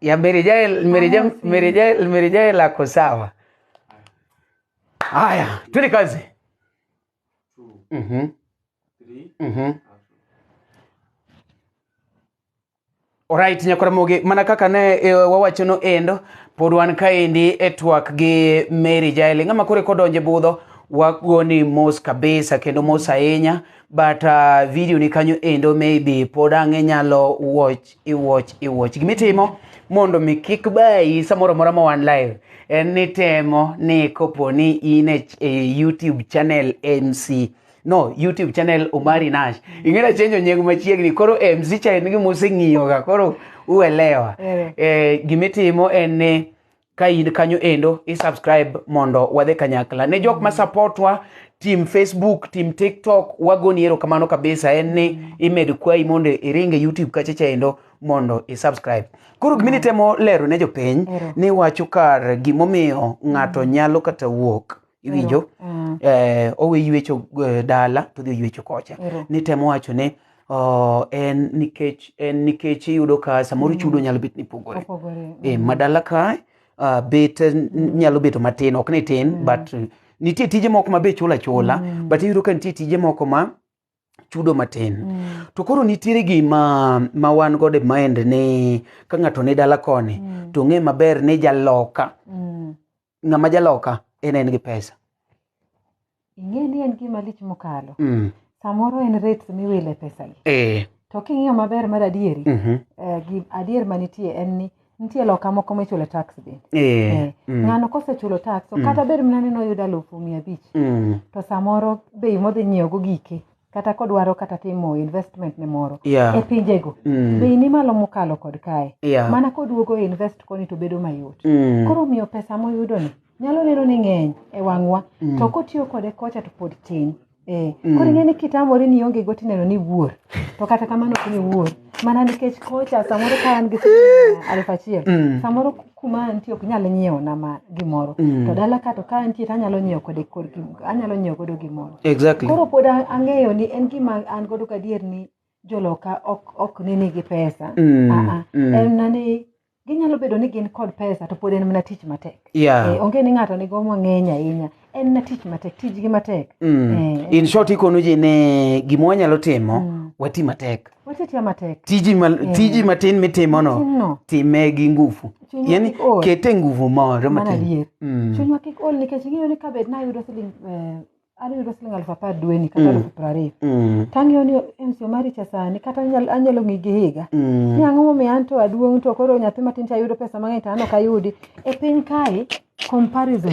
ya Mary Jael, Mary Jael, Mary Jael, Mary Jael ako sawa. Haya, twende kazi. Mhm. Mhm. Alright, nyakora moge mana kaka ne e, wawacho no endo pod wan kaendi e twak gi Mary Jael ng'ama kore kodonje budho wagoni mos kabisa kendo mos ahinya but uh, video ni kanyo endo maybe pod ang' inyalo watch iwatch iwatch gima itimo mondo mi kik bayi samoro mora ma wan live en ni temo ni kopo ni in e, ch- e youtube channel mc no youtube channel omari nash ing'era chenjo nying machiegni koro mc cha en gima useng'iyoga koro uelewa Wewe. eh, gima itimo en ni ka in kanyo endo i subscribe mondo wadhe kanyakla ne jok ma supportwa tim facebook tim tiktok wagoni erokamano kabisa en ni imed kwayi mondo iringe youtube kachacha endo mondo i subscribe koro gima nitemo lero ne jopiny Ero. ni wacho kar gimomiyo ng'ato nyalo kata wuok iwinjo Mm. eh, owe yuecho eh, dala to dhi oyuecho kocha Ero. ni temo wacho ni oh, en nikech en nikech iyudo ka samoro chudo nyalo bet ni pogore Opogore. e, madala ka uh, bet n- nyalo bedo matin ok ni tin mm. but uh, nitie tije moko ma be chula chula mm. but iyudo ka nitie tije moko ma chudo matin mm. to koro nitiere gima ma wan godo e mind ni ka ng'ato ni dala koni mm. to ng'e maber ni jaloka Mm. ng'ama jaloka en en gi pesa ing'e ni en gima lich mokalo mm. samoro en rates miwile pesagi eh. to king'iyo maber mar adieri mm -hmm. eh, adier manitie en ni nitie loka moko michulo tax bende eh, eh. Mm. ng'ano kosechulo tax mm. kata bed mana ni noyudo alufu mia abich mm. to samoro bei modhi nyiewogo gike kata kodwaro kata timo investment ne moro Yeah. e pinjego Mm. bei ni malo mokalo kod kae Yeah. mana koduogo e invest koni to bedo mayot Mm. koro miyo pesa moyudoni nyalo neno ni ng'eny e wang'wa Mm. to kotiyo kode kocha to pod tin Eh, Mm. koro ing'e ni kitamori ni onge go tineno ni wuor to kata kamano ok ni wuor mana nikech kocha samoro ka an gi siling' aluf achiel Mm. samoro kuma antie ok nyal nyiewo na ma gimoro Mm. to dala ka to ka antie to anyalo nyiewo kode kor gim- anyalo nyiewo godo gimoro exactly koro pod a- ang'eyo ni en gima an godo gadier ni joloka ok ok ni nigi pesa Mm, Aa, mm. en na ni ginyalo bedo ni gin kod pesa to pod en mana tich matek yeah Eh, onge ni ng'ato nigo mang'eny ahinya en na tich matek tijgi matek Mm. Eh. in short ikono ji ni gima wanyalo timo Mm. wati matek watetiya matek tiji, ma, Eh. tiji matin mitimono Matinno. time gi nguvu Chunywa yani kik ol. kete nguvu moro Mana matin adier. Mm. chunywa kik ol nikech ing'eyo ni kabed nayudo siling eh, ayudo siling aluf apar dweni kata Mm. aluf piero ariyo Mm. tang'eyo ni en so mari cha sani kata anyal- anyalo ng'i gi higa Mm. ni ang'o momiyo an to aduong' to koro nyathi matin to ayudo pesa mang'eny to an ok ayudi e piny kae comparison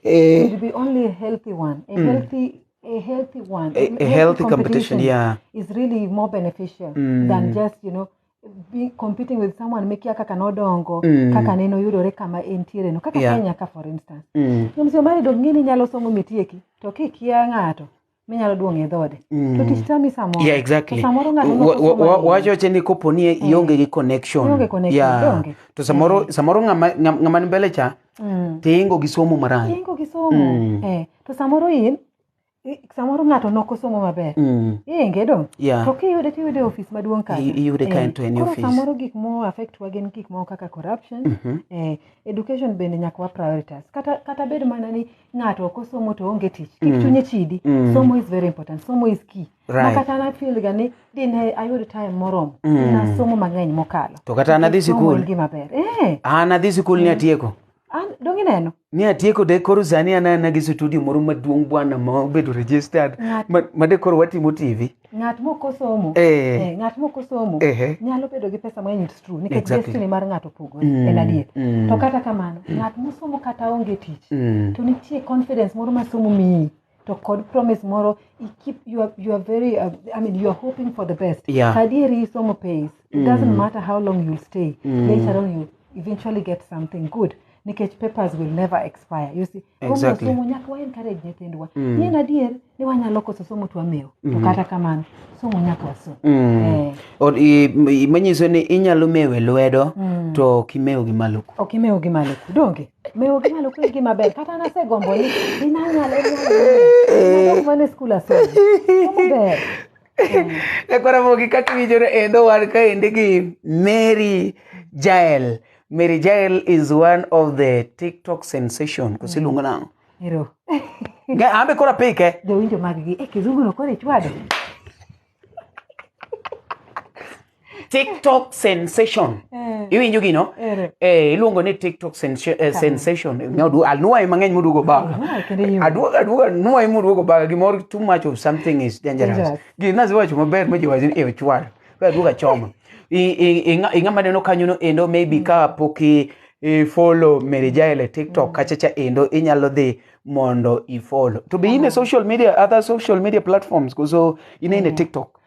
eh, should be only a healthy one a Mm. healthy a healthy one a, a healthy competition yeah is really more beneficial Mm. than just you know be competing with someone mekia kaka nodongo Mm. kaka neno yudore kama entiere no kaka Yeah. kenya ka for instance mm. ng'amsi omari dong ng'eni nyalo somo mitieki to kikia ng'ato minyalo duong' e dhode to tich tami samoro yeah exactly to samoro ng'ato Wa- wa- nokoso wa- mang'eny. wacho wacho ni kopo ni ionge gi connection Ionge connection, yeah donge? to samoro samoro ng'ama ng'ama- ng'ama ni mbele cha Mm. tiingo gi somo marach ingo gi somo Mm. eh, to samoro in i- samoro ng'ato nok osomo maber Mm. inge dong yeah to kiyude tiyude e ofis maduong' kacha I- iyude ka Eh, en to en e koro ofis. samoro gik mo affect wa gin gik moko kaka corruption Mhm. eh, education bende nyaka wa prioritize kata, kata bed mana ni ng'ato ok osomo to onge tich kik chunye chidi Mm. somo is very important somo is key ma Right. kata na feel ga ni dine ayud time moromo Mm. na somo mang'eny mokalo To kata nadhi Nikech somo sikul. en gima ber eh an adhi sikul ni atieko an dong ineno ni atieko de koro sani anana gi studio moro maduong' bwana ma obedo registered Ng'at- ma- ma de koro watimo tv ng'at mok osomo Eh. eh, ng'at mok osomo Ehe. nyalo bedo gi pesa mang'eny it's true nikech Exactly. destiny mar ng'ato opogore Mm, en adier mm. to kata kamano ng'at mosomo kata onge tich Mm. to nitie confidence moro ma somo miyi to kod promise moro i keep you are, you are very uh, i mean you are hoping for the best Yeah. kadieri somo pays it doesn't matter how long you stay Mm. later on you eventually get something good nikech papers will never expire you see Exactly. somo nyaka wa encourage nyithindwa Mm. yien adier ni wanyalo koso somo to wamewo to Mhm. kata kamano somo nyaka wasom Mm. Eh. Or- i- i- manyiso ni inyalo mewe lwedo Mm. to ok imew gi malo ku ok imewo gi malo ku donge mewo gi malo ku en gima ber kata nasegombo ni inanyalo mane skul asomo somo ber ekora mogi kaka iwinjore endo wan kaendi gi mary jael mary jael is one of the tiktok sensation kosiluongo nang'o Ero. Nga- ambe kora pike Jowinjo mag gi. Eh, kizungu no kore chwado. TikTok sensation. Eh. Iwinjo gino? Ere. Eh, iluongo ni TikTok sensa- eh, sensation. Nyodu alnuoye mang'eny moduogo baga. Alnuoye kendo iumo. Aduogo aduogo alnuoye moduogo baga gimoro too much of something is dangerous. Dangerous. Gina ziwacho maber ma jiwacho ni e ochwal. Ka aduogo achoma. I- i- i- ng'a- i Ng'ama neno kanyo no endo maybe ka pok i i follow Mary Jael e TikTok kacha cha endo inyalo dhi mondo i follow. To be in a social media other social media platforms koso in in a TikTok.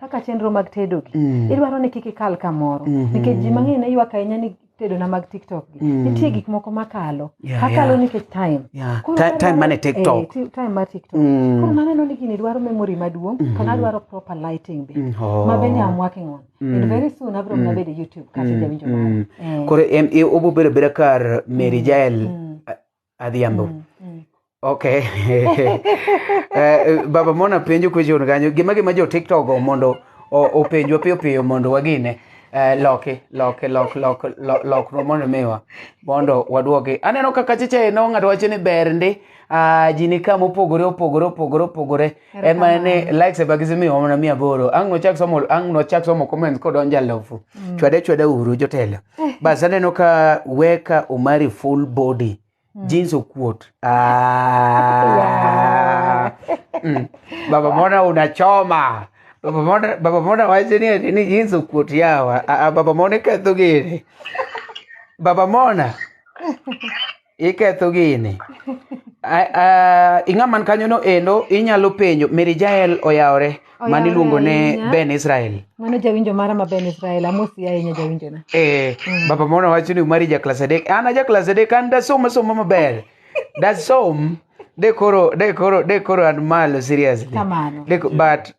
kaka chenro mag tedogi Mm. idwaro ni kik ikal kamoro Mhm. nikech ji mang'eny ne ywak ahinya ni tedona mag tiktok gi Mm. nitie gik moko makalo Yeah, akalo yeah. nikech time Yeah. Koro Ti- time adwaro- mane TikTok. eh, ti- time mar tiktok Mm. koro naneno ni gini dwaro memory maduong' Mhm. kana dwaro proper lighting be Mm, oh. ma bende am working on Mm. and very soon abro Mm. nabede youtube kase Mm, jawinjo mm. mara Eh, Koro em- e- obobedo beda kar Mary Jael mm. Adhiambo. Mm, mm. Okay. uh, baba mona penjo question kanyo gima gima jo TikTok go mondo openjwa piyo piyo mondo wagine uh, loke loke lok lok lok lok no mondo miwa mondo wadwoke aneno kaka chiche no ng'ato wacho ni ber ndi uh, ji ni kama opogore opogore opogore opogore en mana ni Erokamano. likes e bagisi miyo mana mia aboro ang' nochak somo ang' nochak somo comments kodonjo alofu chwade chwade uru jotelo bas aneno ka weka omari full body jeans okuot Ah. Mm. baba mona unachoma baba mona baba mona wacho ni ati ni jeans okuot yawa Ah, ah, baba mona iketho gini baba mona iketho gini A- a- ing'a man kanyono endo inyalo penjo mary jael oyawore man iluongo ne ahinya. ben israel mano jawinjo mara ma ben israel amosi ahinya jawinjona Eh, baba mona wacho ni umari ja klas adek an aja klas adek an dasom asoma maber dasom de koro de koro de koro an malo seriously Kamano. De ko- but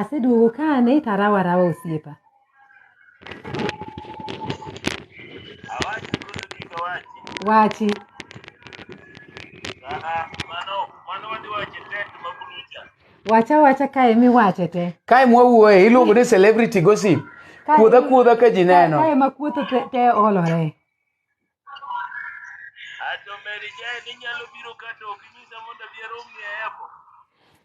Aseduogo kane to arawa arawa osiepa. Wachi. Wacha wacha kae miwache te. Kae mwawuoye iluongo ni celebrity gossip. Kae- Kuodha kuodha ka ji neno. Kae ma kuotho te- te olore. Ato Mary Jane inyalo biro ka to ok inyisa mondo abi arom ni e airport.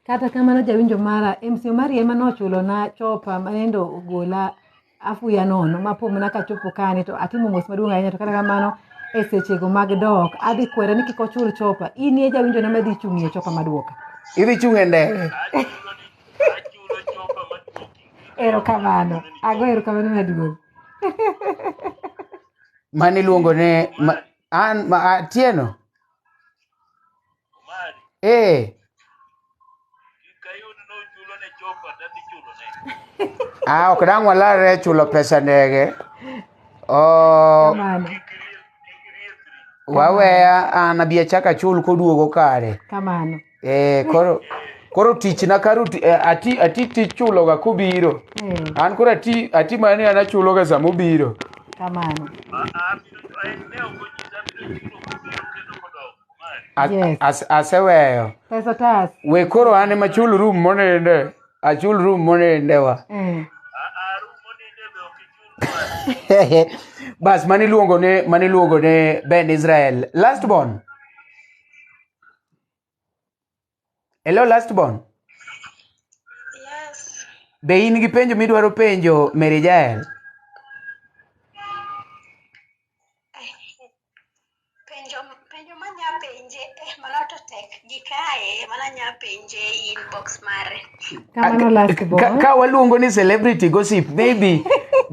Kata kamano jawinjo mara, MC Omari ema nochulona chopa ma nende ogola afuya nono ma po mana kachopo kani to atimo mos maduong' ahinya to kata kamano e sechego mag dok adhi kwere ni kik ochul chopa. In e jawinjona madhi chung'ie chopa maduoka. Idhi chung' e ndege. Achulo ni achulo chopa maduoki. Erokamano. Ago erokamano maduong'. mane iluongo ne ma, an ma, atieno Omari, ee kikayud nochulo ne chopa tadhi chulo ne. ah, ok dang' walarre chulo pesa ndege oh, Kamano. Kik iriek- kik iriekri. waweya an abi achak achul koduogo kare Kamano. Eh, koro koro tichna karo ti- eh, ati ati tich chuloga kubiro Eh, an koro ati ati mani an achuloga sama ubiro kamano. As- Yes. as- aseweyo Pesa tas. we koro an ema chul room moninde achul room monindewa Eh, bas maniluongo ne maniluongo ne ben israel last born Hello last born. Yes. Be in gi penjo midwaro penjo Mary Jael? Penjo penjo ma nya penje eh mano to tek gi kae mano nya penje inbox mare. Kamano last Ka, born. ka waluongo ni celebrity gossip maybe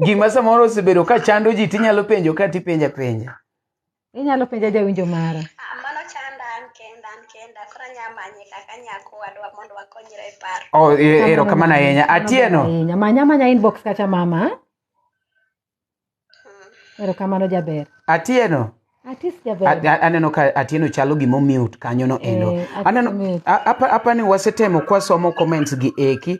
gima samoro osebedo ka chando ji tinyalo penjo ka tipenja penja. Inyalo penja jawinjo mara. Ah, mano chanda an kenda an kenda koro anya manye kaka nyako wadwa mondo wakonyre e paro. Oh, e- erokamano ahinya. Atieno. Ahinya. Manya manya inbox kacha mama. Erokamano jaber. Atieno. Atis A- jaber. a- aneno ka atieno chalo gima omute kanyono endo Eh, ati aneno mute. a- apa- apani wasetemo kwasomo comments gi eki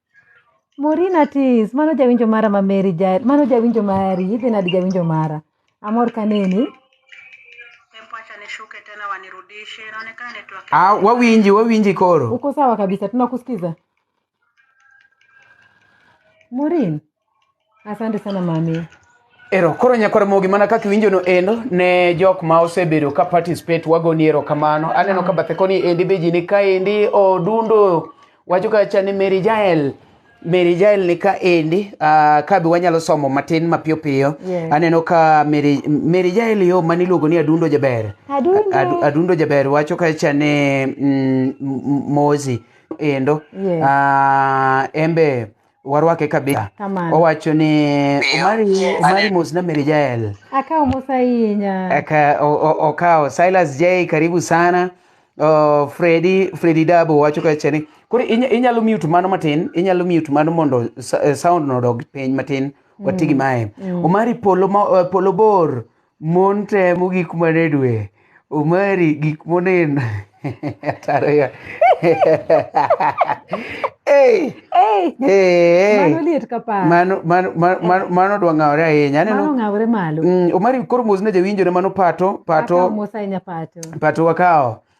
Morina Tis, mano jawinjo mara ma Mary ja, mano jawinjo mari, idhi nadi jawinjo mara. Amor kaneni. Tempo acha nishuke tena wanirudishe, inaonekana network Ah, wawinji, wawinji koro. Uko sawa kabisa, tunakusikiza. Morin, Asante sana mami. Ero, koro nyakwar mogi mana kaka iwinjono endo ne jok ma osebedo ka participate wagoni ero kamano aneno ka bathe koni endi be ji ni ka endi odundo wacho ka cha ni Mary Jael Mary Jael ni ka endi ah, ka be wanyalo somo matin mapiyo piyo Yes. aneno ka Mary Mary Jael yo mani iluongo ni adundo jaber Adundo. Adu- adundo jaber wacho ka cha ni mm, m- m- mozi endo Yes. Ah, embe warwake kabisa Kamano. owacho ni omari omari mos na meri jael Akawo mos ahinya. Aka- o- o- okawo silas j karibu sana uh, fredi fredi dabo wacho kacha ni koro inya- inyalo mute mano matin inyalo mute mano mondo sa- eh, sound no odog piny matin watigi mae omari polo, ma, eh, polo bor Mon temo gik mane dwe. Omari gik monen. Atariga. Hey. Hey. Hey. Mano liet ka pa. Mano mano mano mano dwa ngawre ahinya. Aneno. Mano ngawre malo. Mm, Omari koro mos ne jawinjo ne mano pato pato. Akawo mos ahinya pato. Pato wakawo.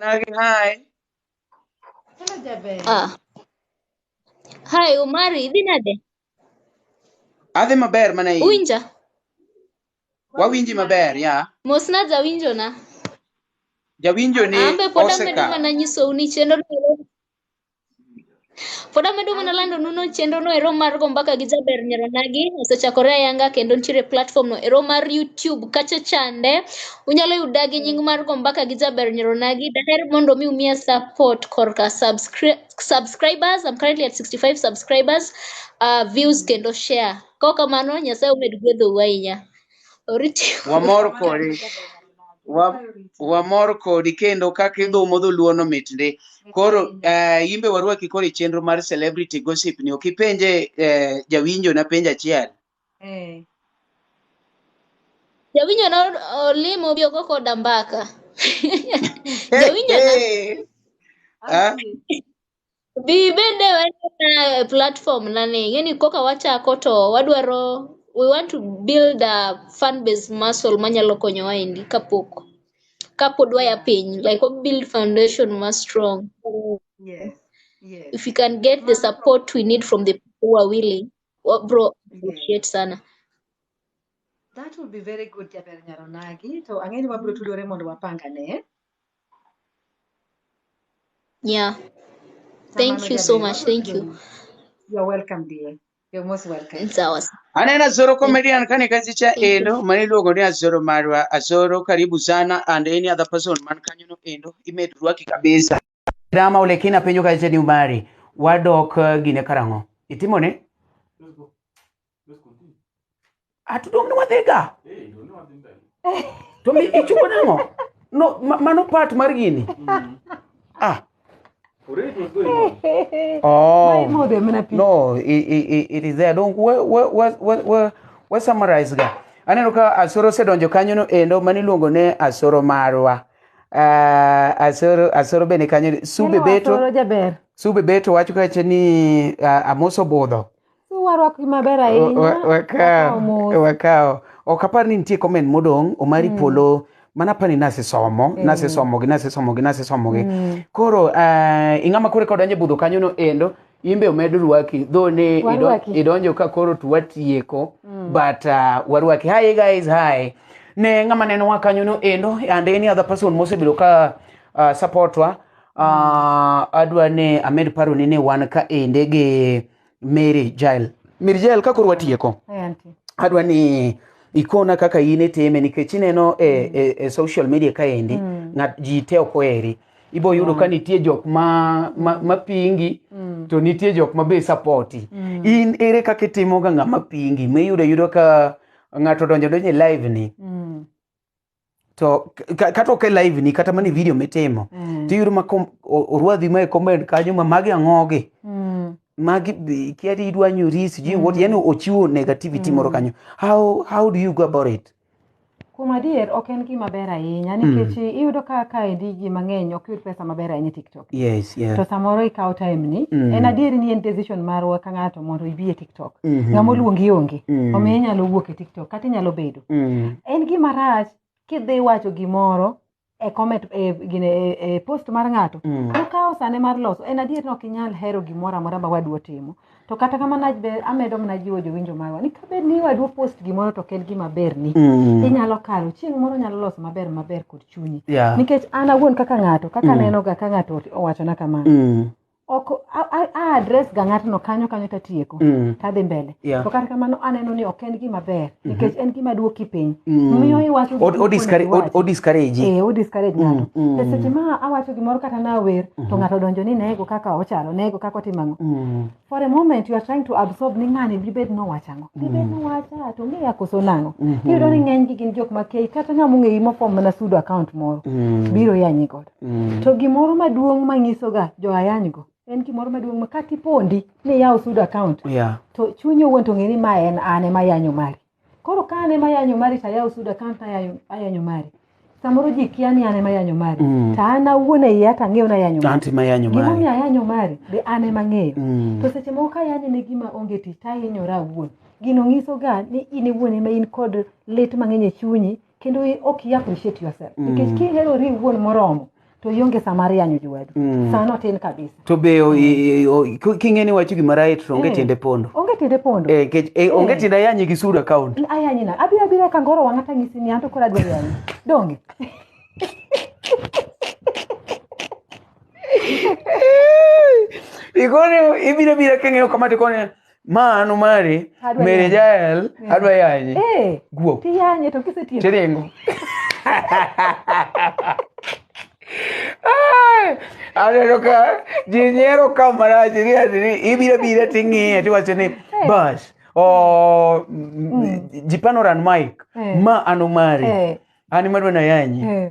Nagi hi. Hello Jaber. Ah. Hi Omari, idhi nade? Adhi maber mana in. Uwinja? Wawinji maber, ya. Mosna jawinjo na. Jawinjo ni Ambe pod amedo oseka. mana nyisou ni chenro Pod amedo mana lando nuno chenro no ero mar go mbaka gi jaber nyaronagi osechakore ayanga kendo nitiere platform no ero mar YouTube kacha chande unyalo yuda gi nying mar go mbaka gi jaber nyaronagi daher mondo mi umiya support korka subscri- subscribers I'm currently at 65 subscribers uh, views kendo share kok kamano nyasaye omed gwedhou ahinya Wamor kodi. Wa, wamor kodi kendo kaka idhumo dholuono mitndi. Koro uh, imbe warwaki koro e chenro mar celebrity gossip ni ok ipenje uh, jawinjo na penjo achiel. Eh. Jawinjo na olimo bi oko koda mbaka. Jawinjo na Ah, Bi bende wanena platform nani ngeni koka wachako to wadwaro we want to build a fan base muscle manyalo konyowa endi kapok kapod waya piny like we build foundation ma strong Yes. Yes. if we can get the support we need from the people who are willing wa bro Yes. appreciate sana That would be very good Jaber Nyaronagi. To ang'e ni wabiro tudore mondo wapangane. Yeah. Thank you so much. Thank you. You're welcome, dear. You're most welcome. It's ours. Anena Zoro comedian kani kazi cha eno mani logo ni Azoro Marwa Azoro karibu sana and any other person man kanyo no eno imedurwa kikabisa drama ule kina penyo kazi ni umari wadok uh, gine karango itimone Let's continue. atudong' ni wadhiga Hey, ndio ni wapi mbele? to mi ichungo nang'o no ma- mano part mar gini Mm. ah Already it was going on. Mae oh modho mana pi. no it, it, it- it is there don't we we we we, we, we summarize ga aneno ka asoro osedonjo kanyo no endo mani luongo ne asoro marwa Ah, asoro asoro bende kanyo sube Neno beto Asoro jaber. sube beto wacho kache ni ah, amoso budho warwakgi maber Wa- ahinya wa- wakawo wakawo mos. wakawo ok apar ni nitie comment modong' omari polo mana apani nasesomo nasesomogi nasesomogi nasesomogi koro ah, ing'ama koro eka odonjo e budho kanyono endo in be omed rwaki dho ni ido- Warwaki. idonjo ka koro to watieko but ah, warwaki hi guys hi ne ng'ama nenowa kanyono endo and any other person mosebedo ka ah, supportwa Ah, adwa ni amed paro ni ne wan ka ende gi Mary Jael. Mary Jael ka koro watieko. Eh, auntie. Adwa ni ikona kaka in itime nikech ineno e, e, e social media ka endi Mm. ng'at ji te ok oheri. Ibo yudo ka nitie jok ma, ma, ma pingi Mm. to nitie jok ma be sapoti. Mm. In ere kaka itimoga ng'ama pingi? Miyudo yudo ka ng'ato donjo donjo e live ni Mm. to ka- kata ok e live ni kata mana e video mitimo Mm. tiyudo ma kom- o- orwadhi ma e comment kanyo ma magi ang'ogi Mm. magi be- kia ni idwa nyori sijui what yani ochiwo negativity moro kanyo how, how do you go about it Kuom adier ok en gima ber ahinya nikech iyudo ka kaendi ji mang'eny ok yud pesa maber ahinya e TikTok. Yes, yeah. to samoro ikawo time ni Mm. en adier ni en decision marwa ka ng'ato mondo ibi e tiktok Mhm. ng'ama oluongi onge Mm. omiyo inyalo wuok e tiktok kata inyalo bedo Mm. en gima rach kidhi wacho gimoro e comment e, gine, e, e post mar ng'ato Mm. okawo sane mar loso en adier ni ok inyal hero gimoro amora ma wadu otimo to kata kamano abe- amedo mana jiwo jowinjo marwa ni kabed ni wadwa post gimoro to ok en gima berni Mm. inyalo kalo chieng' moro nyalo loso maber maber kod chunyi Yeah. nikech an awuon kaka ng'ato kaka Mm. nenoga ka ng'ato owachona kamano Mm. ok a- a- a address ga ng'atno kanyo kanyo tatieko Mm. tadhi mbele Yeah. to kata kamano aneno ni ok en gima ber nikech en gima duoki piny Mm. miyo iwacho gik Od- mokoni odiscourage- iwacho. od- odiscourage. Eh, odiscourage ng'ato Mm, mm. to seche ma awacho gimoro kata nawer to ng'ato donjo ni nego kaka ochalo nego kaka otimo ang'o Mm. for a moment you are trying to absorb ni ng'ani dibed nowacho ang'o dibed nowacha to ng'eya koso nang'o Mhm. iyudo ni ng'eny gi gin jok ma kei kata ng'a mong'eyi mofom mana sudo account moro Mm. biro yanyi godo Mm. to gimoro maduong' manyisoga jo ayanygo en gimoro maduong' ma kata ipondi ni iyaw sudo account yeah. to chunyi owuon to ng'e ni ma en an ema ayanyo mari koro ka an ema ayanyo mari to ayaw sudo account ayanyo, ayanyo mari samoro ji kia ni an ema ayanyo mari Mm. to an awuon e iya to ang'eyo ni ayanyo mari anti mayanyo mari gimomiyo ayanyo mari be an ema ng'eyo Mm. to seche moko kayanyo ne gima onge tich to ahinyora awuon gino nyisoga ni in iwuon ema in kod lit mang'eny e chunyi kendo ok i appreciate yourself mm. nikech kiherori iwuon moromo to ionge sama mar yanyo jowadu mm. sano tin kabisa to be king'e ni wacho gima right to onge eh. tiende pondo onge tiende pondo eh, eh, eh. onge tiende ayanyi gi sud account ayanyi na abiro abiro ka ngoro wang'a tang'isi ni an to koro adwa yanyi donge ikone ibiro bira king'eyo kama tikone mano mari Adwa mere yanyo. jael adwa yanye Eh, guok tiyanye to kisetieko. tiringo Ai, aneno ka ji nyiero ka marach ni ati ni ibiro bire ting'iye tiwacho ni bas o jipanoran mike Eh. ma an omari Eh, an madwa nayanyi eh,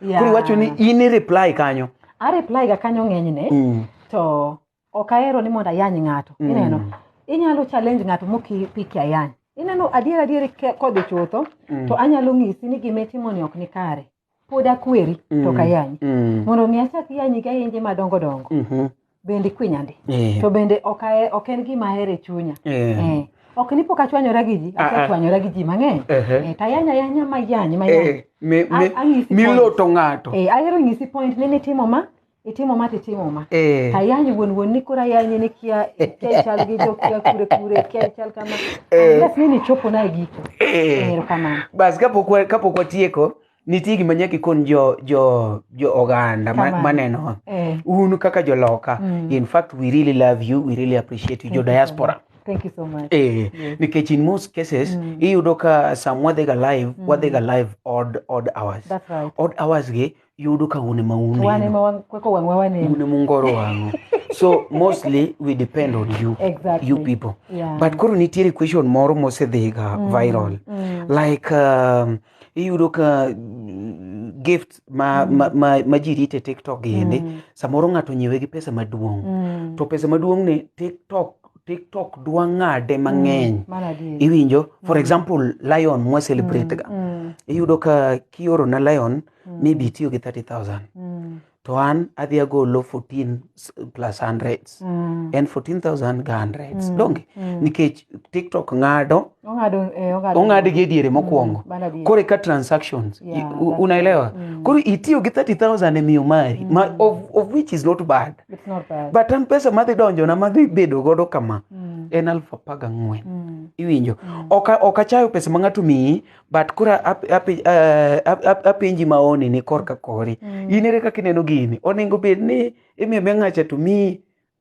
Yeah. koro iwacho ni in i reply kanyo a reply ga kanyo ng'enyne Mm. to ok ahero ni mondo ayany ng'ato Mm. ineno inyalo challenge ng'ato mokipiki ayany ineno adier adier ke- kodhi chutho Mm. to anyalo ng'isi ni gima itimoni ok ni kare pod akweri to ok ayanyi Mm. mondo mi achak yanyi gi ayenje madongo dongo Mhm. bende kwinyandi Eh. to bende ok ahe- ok en gima ahero e chunya Eh. Eh, ok ni pok achwanyora gi ji Ah, ah. asechwanyora gi ji mang'eny Ehe. Eh, to ayany ayanya mayany mayany Eh, mi- mi- A- anyisi miloto ng'ato Eh, ahero nyisi point ni nitimo ma itimo ma titimo ma Eh. to ayany wuon wuon ni koro ayanye ni kia kia chal gi jo kia kure kure kia chal kama Eh. unless ni nichopo na e giko Eh. erokamano bas kapok wa- kapok watieko nitie gima nyaka ikon jo jo jo oganda ma- Kamano. manenowa Eh, un kaka joloka Mm. in fact we really love you we really appreciate you Thank jo you so diaspora thank you so much. Eh, Yes. nikech in most cases Mm. iyudo ka sam wadhiga live Mm. wadhiga live odd odd hours That's right. odd hours gi yudo ka une ma un Wane neno ma wan- kweko wang'wa waneno. une mungoro wang'o so mostly we depend on you Exactly. you people Yeah. but koro nitiere question moro mosedhiga Mm, viral mm. like um, iyudo ka mm, gift ma, ma, ma, ma ji rite tiktok gi endi Mm. samoro ng'ato nyiewe gi pesa maduong' Mm. to pesa maduong' ni tiktok tiktok dwa ng'ade mang'eny Mm. Mano adier. iwinjo for Mm. example lion mwa celebrate ga Mm. iyudo ka kioro na lion Mm. maybe itiyo gi 30000 Mm. to an adhi agolo 14 s- plus hundreds Mm. en 14000 ga hundreds Mm. donge Mm. nikech tiktok ng'ado Ong'ado, eh, ong'ado. ong'ad gi ediere mokwongo Mm, bana diere. kore ka transactions Yeah, I- u- that's unaelewa right. Mm. koro itiyo gi 30000 e miyo mari ma, of, of which is not bad It's not bad. but an pesa madhi donjona madhi bedo godo kama Mm. en alfu apar gang'wen Mm. iwinjo ok ok achayo pesa ma ng'ato miyi but koro ap- api- eh, ap- ap- apenji maoni ni korka kori Mm. in ere kaka ineno gini onego bed ni imiyo be ng'acha to miyi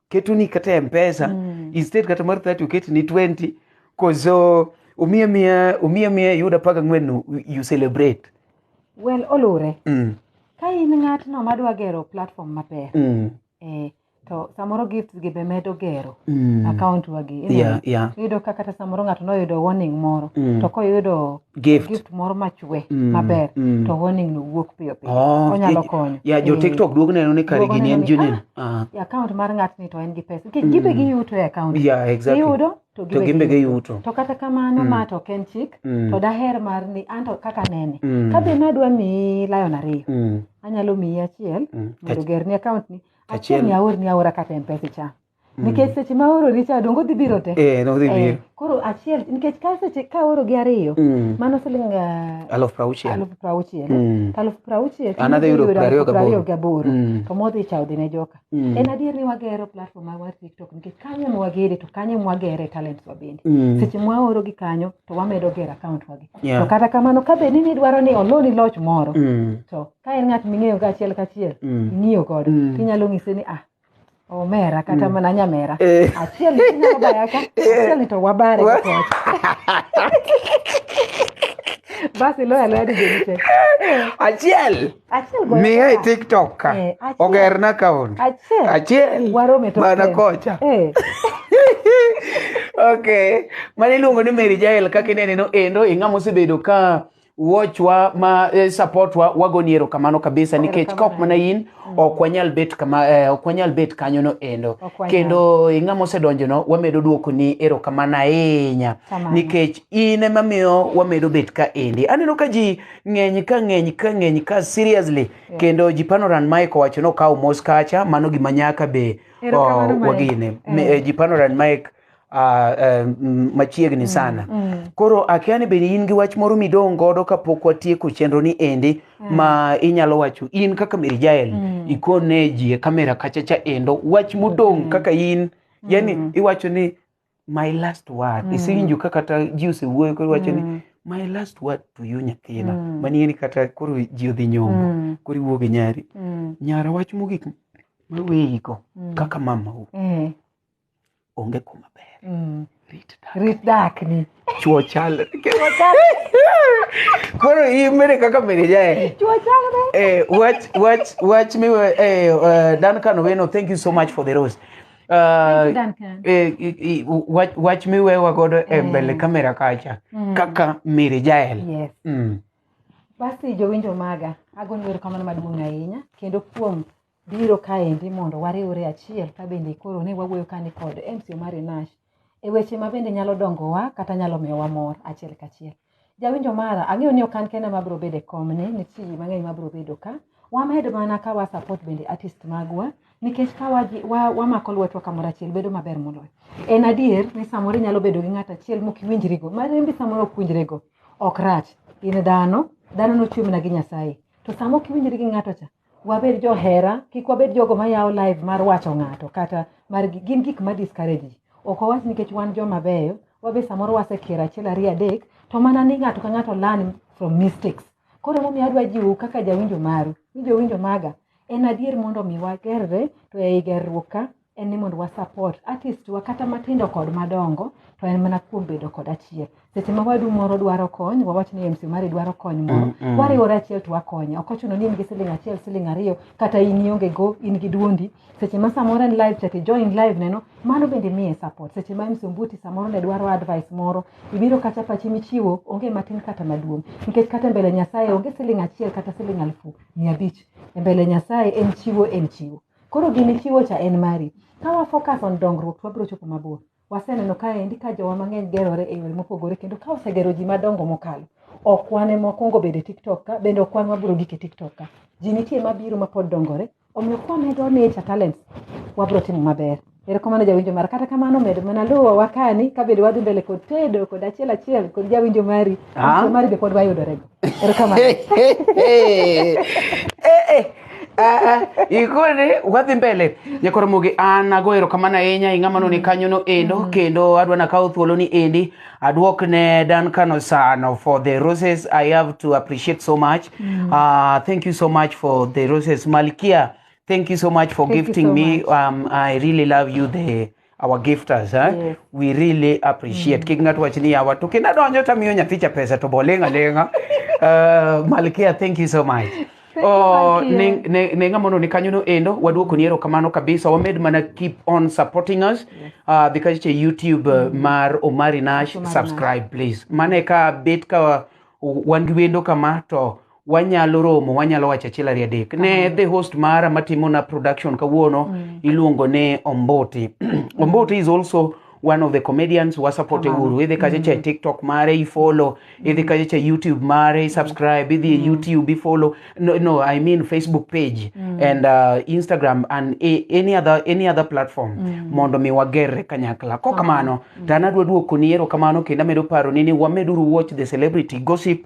ketoni kata e mpesa Mm. instead kata mar 30 oketi ni 20 koso omiya miya omiya miya iyuda paka ng'wen no, you celebrate well oluwre mm, ka in ng'atno madwa gero platform maber mm, eh, to samoro gifts gi be medo gero Mm. account wa gi Yeah, yeah. iyudo ka kata samoro ng'ato noyudo warning moro Mm. to koyudo Gift. gift moro machwe Mm, maber mm. to warning no wuok piyo piyo Oh, onyalo eh, konyo Yeah, jo Eh, TikTok duog neno ni kare duogo gini en neno ni, junen. Ah. e account mar ng'atni to en gi pesa Gi- gibe giyuto e account Yeah, exactly. giyudo to To gimbe gibe giyuto. giyuto to kata kamano ma to ok en chik Mm. to daher mar ni anto kaka nene Mm. ka be nadwa miyi lion ariyo Mm. anyalo miyi achiel Mm. mondo gerni account ni Achiel. achiel aor ni aora kata mpesa cha nikech seche ma aoro richa dongo dhi biro te Eh, no dhi Eh, biro. koro achiel nikech ka seche ka aoro gi ariyo Mm. mano siling ah, Aluf prauchiel. aluf prauchiel Mm. to aluf prauchiel An adhi yudo prariyo gaboro. gaboro Mm. to modhi cha odhi ne joka Mm. en adier ni wagero platform mar tiktok nikech kanyo ema wagere to kanyo ema wagere talents wa bende Mm. seche ma waoro gi kanyo to wamedo gero account wagi Yeah. to kata kamano ka bed ni nidwaro ni oloni loch moro Mm. to ka en ng'at ming'eyo ka achiel kachiel Mm. ing'iyo godo Mm. inyalo ng'ise ni ah omera kata mana nyamera Eh. achiel ni inyalo baya ka achiel ni to wabare Wa- gi kocha basi loyo aloya dijeni te achiel achiel goyo miya e ka. tiktok ka Eh, achiel. ogerna kaon achiel achiel warome to mana kocha eh okay mane iluongo ni mary jael kaka ineneno endo ing'ama osebedo ka watchwa ma eh, supportwa wagoni erokamano kabisa nikech ka ok mana in ok wanyal bet kama eh, ok wanyal bet kanyo no endo Ok wanyal. kendo eh, ng'ama osedonjo no wamedo duoko ni erokamano ahinya Kamano. nikech in ema miyo wamedo bet ka endi aneno ka ji ng'eny ka ng'eny ka ng'eny ka seriously kendo ji panoran mike owacho ni okawo mos kacha mano gima nyaka be Erokamano, oh, Mike. wagine Eh. Me- eh, ji panoran mike uh, um, machiegni sana mm, mm. koro akia ni bende in gi wach moro midong' godo kapok watieko chenro ni endi mm. ma inyalo wacho in kaka Mary Jael mm. ikone ji e kamera kachacha endo wach mudong' mm. kaka in yani mm. iwacho ni my last word mm. isiwinjo ka kata ji osewuoyo koro iwacho mm. ni my last word to you nyathina mm. mani en kata koro ji odhi nyombo mm. koro iwuo gi nyari mm. nyara wach mogik maweyigo mm. kaka mamau mm. onge kuma ber Mm. rit dak Rit dakni. chuo chalre koro in mere kaka mere jae Chwo chalre. Eh, wach wach wach mi eh, eh, Duncan Owino thank you so much for the rose Uh, Thank you, Duncan. eh, i- i- wach, wach miwewa godo e mbele kamera kacha kaka Mary Jael Yes. mm. Basi jowinjo maga, agoni erokamano maduong' ahinya kendo kuom biro kaendi mondo wariwre achiel ka bende koro ne wawuoyo kani kod MC Omari Nash e weche ma bende nyalo dongowa kata nyalo miyowa mor achiel kachiel. Jawinjo mara, ang'eyo ni ok an kenda ma biro bedo e komni, nitie ji mang'eny ma biro bedo ka. Wamed mana ka wa support bende artist magwa nikech ka waji- wa- wamako lwetwa kamoro achiel bedo maber moloyo. En adier ni samoro inyalo bedo gi ng'ato achiel mok iwinjrigo, ma rembi samoro ok winjrego, ok rach. In dhano, dhano nochwe mana gi Nyasaye. To sama ok iwinjri gi ng'ato cha, wabed johera kik wabed jogo mayawo live mar wacho ng'ato kata mar gin gik ma discourage ji ok wawach nikech wan joma beyo wabe samoro wasekier achiel ariyo adek to mana ni ng'ato ka ng'ato learn from mistakes koro emomiyo adwa jiwu kaka jawinjo maru ni jowinjo maga en adier mondo mi wagerre to ei gerruok ka en ni mondo wa support artist wa kata matindo kod madongo to en mana kuom bedo kod achiel seche ma wadu moro dwaro kony wawach ni MC mari dwaro kony moro Mm, mm. wariwore achiel to wakonye ok ochuno ni in gi siling achiel siling ariyo kata in ionge go in gi duondi seche ma samoro en live chat join live neno mano bende miye support seche ma MC Ombuti samoro ne dwaro advice moro ibiro kacha pachi michiwo onge matin kata maduong nikech kata mbele Nyasaye onge siling achiel kata siling alfu mia abich e mbele Nyasaye en chiwo en chiwo Koro gini chiwo cha en mari. Ka wa focus on dongruok to wabiro chopo mabor. Waseneno kaendi ka jowa mang'eny gerore e yore mopogore kendo ka osegero ji madongo mokalo. Ok wan ema wakwongo bedo e TikTok ka bende ok wan wabiro gik e TikTok ka. Ji nitie mabiro mapod dongore. Omiyo kwamedo nature talents wabiro timo maber. Erokamano jawinjo mara. Kata kamano medo mana luwo wakani kabedo wadhi mbele kod tedo kod achiel achiel kod jawinjo mari. Ah. Achiel mari be pod wayudorego. Erokamano. ikone wadhi mbele nyakoromogi an ago erokamano ahinya ing'ama noni kanyono endo mm. kendo adwa nakawo thuoloni endi adwok ne dan kano sano for the roses i have to appreciate so much mm. uh, thank you so much for the roses malkia Thank you so much for Thank you gifting so me. much. Um, I really love you, the our gifters. Huh? Yes. We really appreciate. Kik ng'ato wach ni yawa to kendo adonjo to amiyo nyathicha pesa to bolenga lenga. Uh, Malkia, thank you so much. Oh, Malkia. ne, ne, ne ng'a mondo ni kanyo no endo waduoko ni erokamano kabisa wamed mana keep on supporting us uh, dhi kache youtube uh, mar omari nash Omari Nash. subscribe please mane ka bet ka wan gi wendo kama to wanyalo romo wanyalo wacho achiel ariyo adek ne the host mara matimona production kawuono mm. iluongo ni ombuti ombuti is also one of the comedians wasapote uru idhi kacha cha e tiktok mare ifollow idhi kacha cha youtube mare isubscribe idhi e youtube ifollow no, no i mean facebook page and uh, instagram and a, any other any other platform mondo mi wagerre kanyakla ko kamano to an adwa duokoni ero kamano kendo amedo paroni ni wameduru watch the celebrity gossip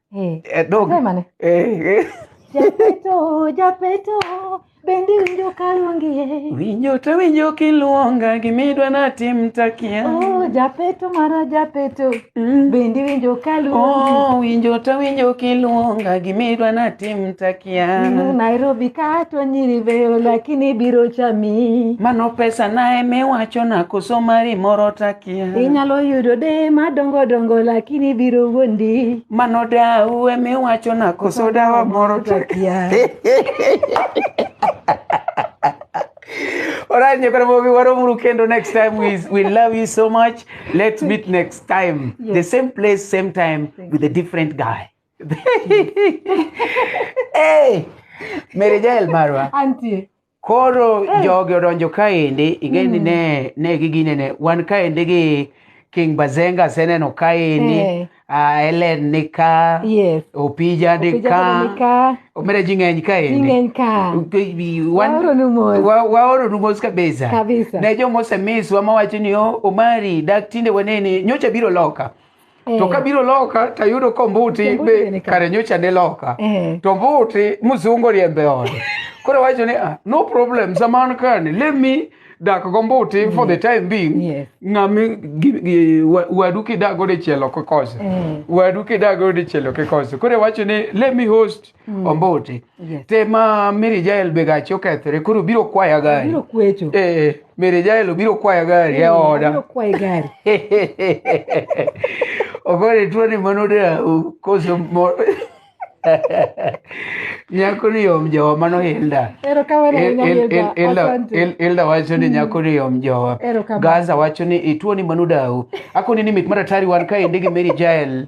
Eh, Eh, dog. ne mane? Eh, eh. Japeto, japeto, bendi winjo kaluongie. Winjo to winjo kiluonga gimidwa natim takia. Oh, japeto mara japeto, Mm. bendi winjo kaluongie. Oh, winjo to winjo kiluonga gimidwa natim Ninu takia. Nairobi kato nyiri veyo lakini biro chami. Mano pesa naye miwacho nakoso mari moro takia. Yeah. Inyalo yudo de madongo dongo lakini biro wuondi. Mano dau ema iwacho na koso dawa moro to akia. Alright, nyakwana mobi waromuru kendo next time we, we love you so much. Let's meet next time. Yes. The same place, same time Thank with a different guy. hey! Mary Jael Marwa. Auntie. Koro jogi odonjo kaendi, ing'e ni ne, ne giginene, wan kaendi gi King Bazenga aseneno kaendi, Eh. ah, Helen ni ka, Yes. Opija ni Opija ka, ni ka. omera ji ng'eny kaendi. Ing'eny ka. Wan- Waoronu mos. Wa- waoronu mos kabisa. Kabisa. Ne joma osemiswa mawacho ni "Oh, Omari, dak tinde waneni, nyocha biro loka. to Eh. kabiro loka tayudo kombuti Kombuti be be ni ka. kare nyocha ne loka Eh. to mbuti mzungu oriembe ode koro wacho ni ah, no problem zaman kani let me dak go mbuti for the time being Yes. ng'ami gi- gi- wa- wadu kidago dichielo kikose Eh. wadu kidago dichielo kikose koro wacho ni let me host Mm. ombote Yes. te ma mary jael be gache okethore koro biro kwaya gari Abiro kwecho. Eh, mary jael obiro kwaya gari e Abiro oda kwayo gari. ogore tuo ni mano da koso mo nyako ni yom jowa mano hilda Erokamano ahinya Hilda. Asante. ilda wacho ni nyako ni yom jowa Erokamano. gaza wacho ni ituo ni mano dau akoni ni mit maratari wan kaendi gi mary jael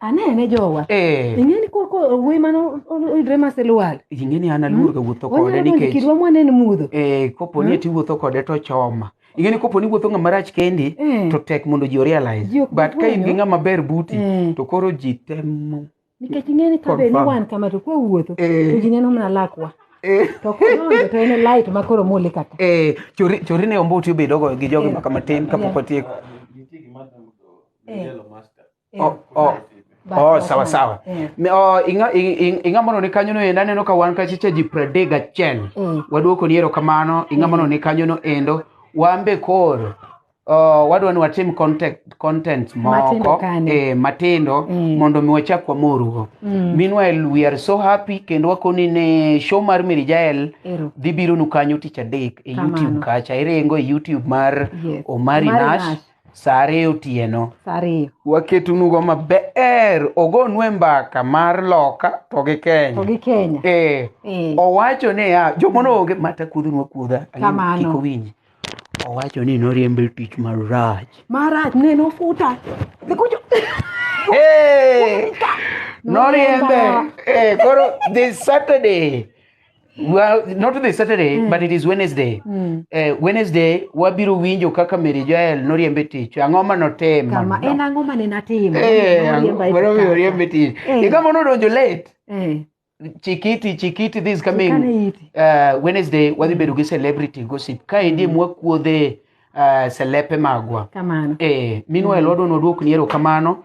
anene jowa Eh. ing'eni koko owuoyi mane oyudre masilwal ing'eni an aluor ga wuotho kode wanyalo mondo nikech kirwa mwanen mudho eh, kopo ni eti wuotho kode to choma ing'eni kopo ni wuotho ng'ama rach kendi Eh. to tek mondo ji orealize Ji ok but ka in gi fwenyo. ng'ama ber buti Eh. to koro ji temo nikech ing'eni ka be ni Confirm. wan kama to kwawuotho Eh. to ji neno mana lakwa Eh. to kodonjo to en e light ma koro mole kata Eh, chori chori ne ombuti obedogo gi jogi maka matin kapok otieko Eh. Oh, oh. Oh, sawa sawa. Yeah. Mi- Oh, inga ing- ing- inga mono ni kanyo no endo aneno ka wan kachicha ji pradek gachiel. Mm. Waduoko ni erokamano inga mono ni kanyo no endo. Wan be koro oh, wadwa ni watim content, content Matindo moko kani. eh, matindo Mm. mondo mi wachak wamorugo. Mm. Meanwhile we are so happy kendo wakoni ne show mar Mary Jael Ero. dhi biro nu kanyo tich adek e Kamano. YouTube kacha iringo e YouTube mar Yes. Omari Omari Nash Nash. Sa ariyo otieno. Sa ariyo. Waketunugo maber ogonue mbaka mar loka to gi Kenya. To gi Kenya. Eh. Eh. Owacho ni ya jomono onge mata kudhunwa kudha. Kamano. Kik owinji. Owacho ni noriembe tich marach. Marach ne nofuta. Nikucho. Hey! Noriembe. Eh, koro this Saturday Well, not the Saturday, but it is Wednesday. Eh, Wednesday wabiro winjo kaka Mary Joel noriembe tich. Ang'o ma notimo? kama en ang'o ma ne natimo Eh, Noriemba e ang'o- mano tich oriembe tich. Eh. Higa mano odonjo late. kama. Eh, Chikiti, Chikiti this coming Chikane iti. uh, Wednesday wadhi bedo gi celebrity gossip. Ka endi mwakuodhe uh, selepe magwa. kamano Eh, meanwhile wadwa nodwok ni erokamano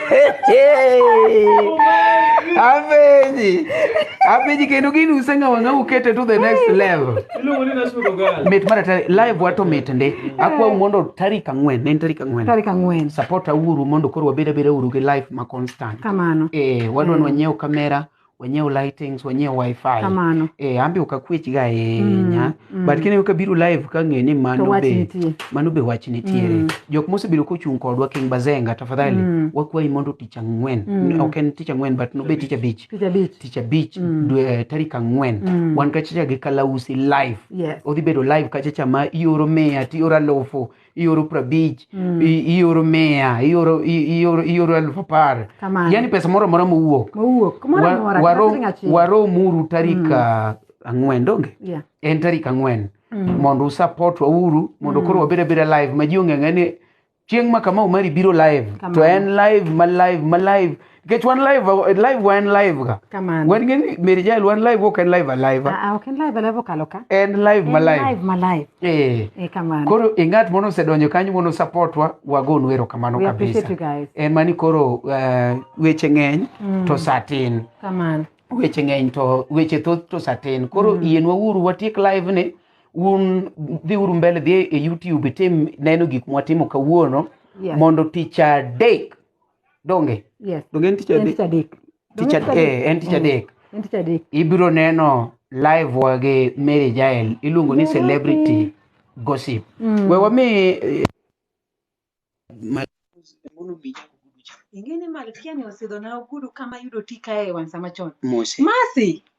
Apenji. Apenji kendo gini useng'awa ng'a ukete to the next level. Iluongo ni nasudo gal. Mit mar atari live wato mit ndi. Akwau mondo tarik ang'wen, ne en tarik ang'wen. tarik ang'wen Support auru mondo koro wabed abeda uru gi live ma constant. kamano Eh, wadwa nwa nyiew kamera, wanyiew lightings wanyiew wifi kamano e ambe ok akwech ga ahinya Mm, mm. but kineno kabiro live kang'e ni to mano wach be nitie mano be wach nitiere Mm. jok mosebedo kochung' kodwa king bazenga tafadhali Mm. wakwayi mondo tich ang'wen Mm. ok en tich ang'wen but nobe tich abich tich abich tich abich Mm. dwe eh, tarik ang'wen Mm. wan kachacha gi kalausi live yes odhi bedo live kachacha ma ioro mia tioro alufu ioro prabich Mm. i- ioro mia ioro i- ioro ioro elfu apar Kamano. yani pesa moro amora mowuok Mowuok. Kumoro Wa- amora. waro- kata siling achiel. waromuru tarik ah, ang'wen donge Yeah. en tarik ang'wen Mm. mondo usupport wauru mondo koro wabed abeda live ma ji ong'eng'e ni chieng' ma kamau mari biro live to Kamano. en live ma live ma live Nikech wan live, live wa en live ga. Kamano. Wan ng'e ni Mary Jael wan live ok en live a live. Ah, ah, ok en live live okalo ka. En live ma En live. live ma live. Eh. Eh, kamano. Koro e ng'at moro osedonjo kanyo mondo support wa wagonu erokamano We appreciate kabisa. you guys. En mani koro eh, weche ng'eny Mm. to saa tin. Kamano. weche ng'eny to weche thoth to satin koro yienwa uru watiek live ni un dhi uru mbele dhi e youtube itim neno gik mwatimo kawuono Yes. mondo tich adek donge yes donge en tich en adek tich adek tich Donge adek eh, en tich Mm. adek en tich adek ibiro neno live wa gi Mary Jael iluongo ni Mary. celebrity gossip Mm. we wami eh, ma- ing'e ni malkia ni osidhona ogudu kama yudo tika e wang' sama chon mose masi